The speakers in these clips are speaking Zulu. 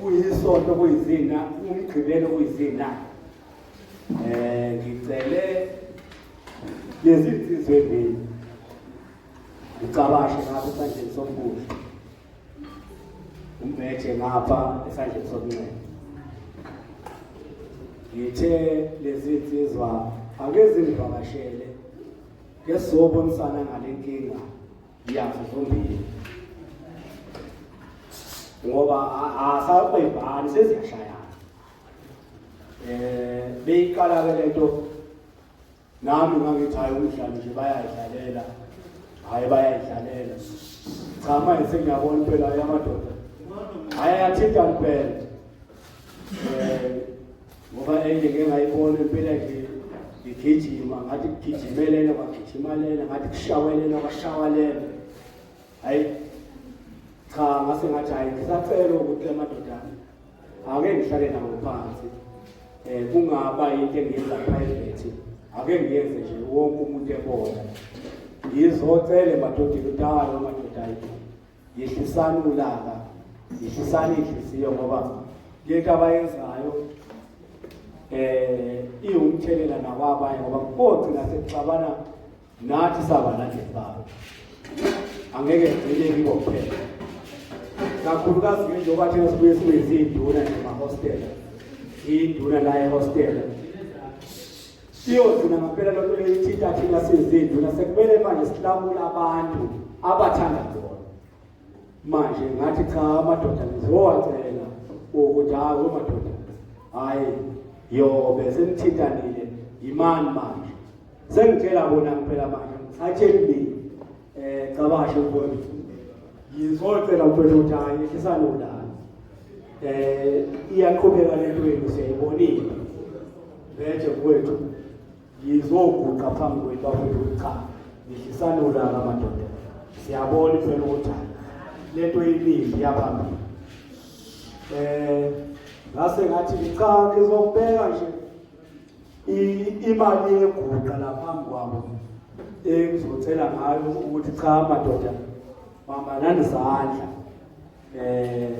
kuyisonto kuyizina umgqibelo kuyizina eh ngicele lezi nsizwe mbili ngicabashe ngapha esandleni sokubuhle umbethe ngapha esandleni sokunxele ngithe lezi nsizwa ake zingivakashele ngesizobona isana ngale nkinga Yazo zombili. Ngoba asakwebani seziyashayana. Eh beyiqala ke lento nami ngangithi hayi umdlalo nje bayayidlalela. Hayi bayayidlalela. Cha manje sengiyabona impela yamadoda. Hayi athinta impela. Eh, ngoba enye ke ngayibona impela nje ngigijima ngathi kugijimelela kwagijimalela ngathi kushawelela kwashawalela hayi cha ngase ngathi hayi ngisacela ukuthi amadodana ake ngihlale nawo phansi eh kungaba into engiyenza private ake ngiyenze nje wonke umuntu ebona ngizocele madodana utalo madodana Yehlisani ulaka, yehlisani inhliziyo ngoba lento abayenzayo eh iwumthelela nakwabanye ngoba kogcina sekuxabana nathi sabalandeli babo angeke ngcine kibo kuphela kakhulukazi ke njengoba thina sibuye sibe izinduna nemahostela induna la ehostela Siyozina ngampela loo nto leyo ithinta thina sizindlu nasekumele manje silamula abantu abathanda bona manje ngathi cha amadoda ngizowacela ukuthi hayi omadoda hhayi yobe senithintanile yimani manje sengitshela bona kuphela manje ngithathe emini Eh cabashe mfowethu. Ngizocela mfowethu ukuthi hayi ehlisane ulala. Eh iyaqhubeka lento yenu siyayibonile. Vetshe mfowethu. Ngizoguqa phambi kwenu bafowethu cha. Ngihlisane ulala madoda. Siyabona impela ukuthi lento yimizwa yaphambili. Eh ngase ngathi cha ngizokubeka nje imali yeguqa laphambi kwabo engizocela ngayo ukuthi cha madoda bambanani izandla eh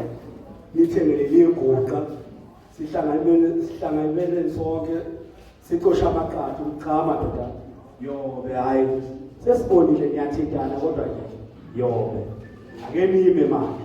nithengele liguqa sihlanganele sihlanganele sonke sicosha amaqatha ukuthi cha madoda yobe hayi sesibonile niyathintana kodwa nje yobe ake nime manje